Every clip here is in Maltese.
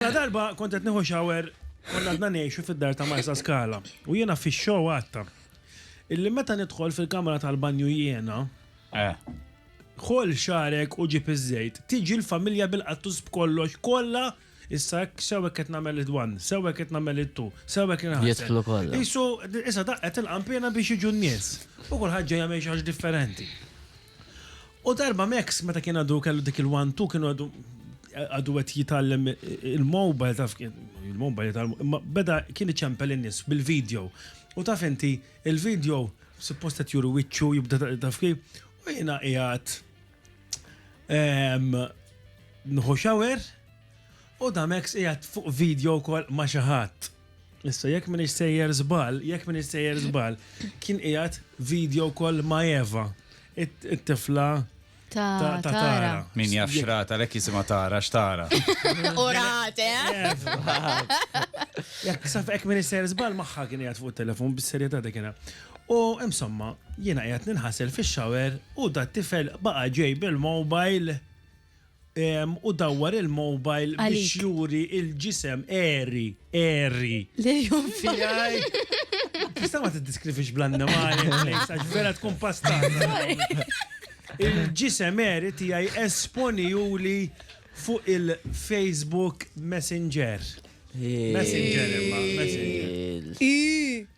La darba kont qed nieħu shower konna għadna ngħixu fid-dar ta' Marsa Scala u jiena fix-show għadta illi meta nidħol fil-kamra tal-banju jiena, ħoll xagħrek u ġib iż-żejt, tiġi l-familja bil-qattus b'kollox kollha issa hekk sew hekk qed nagħmel it-one, sew hekk qed nagħmel it-two, sew hekk qed inħassel. Jidħlu kollha. Qisu issa daqqet il-qanpiena biex jiġu n-nies u kulħadd ġej jagħmel xi ħaġa differenti. U darba Max meta kien għadu kellu dik il-one-two kienu għadu għadu għet jitallem il-mobile taf il-mobile jitallem imma beda kien iċempel in-nis bil-video u taf inti il-video supposta juru wicċu jibda taf kif u jina qiegħed nħu xawer u da Max qiegħed fuq video kol ma xaħat. Issa, jekk minn sejjer zbal, jekk minn sejjer zbal, kien qiegħed video kol ma' Eva, it-tifla ta' tara. Min jaf xrata, lek jisima tara, xtara. Urate, eh? Jekk saf ek minn sejjer zbal, maħħa kien qiegħed fuq telefon bis-serjetà dik U insomma, jiena qiegħed ninħasel fix-xawer u da tifel baqa' ġej bil-mobile u dawwar il-mobile biex juri il-ġisem eri, eri. Le jum fijaj. Tista ma t-diskrifix bl-annimali, għax vera tkun pastata. Il-ġisem eri tijaj esponi juli fuq il-Facebook Messenger. Messenger imma, Messenger.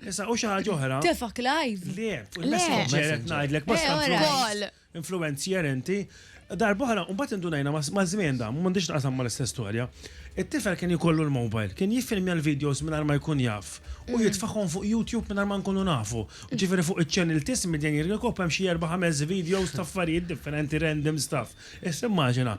Issa, u xaħġa oħra. Tefak live. Le, Messenger qed ngħidlek, ma skont. influenzier inti, darba oħra, u mbagħad indunajna maż-żmien dan, m'għandix taqsam mal-istess storja, it-tifel kien jkollu l-mobile, kien jiffilmja l-videos mingħajr ma jkun jaf u jitfagħhom fuq YouTube mingħajr ma nkunu nafu. Ġifieri fuq iċ-channel t'Ismit Jgħin Jirkop hemm xi erba' ħames videos ta' affarijiet differenti random stuff. Issa immaġina.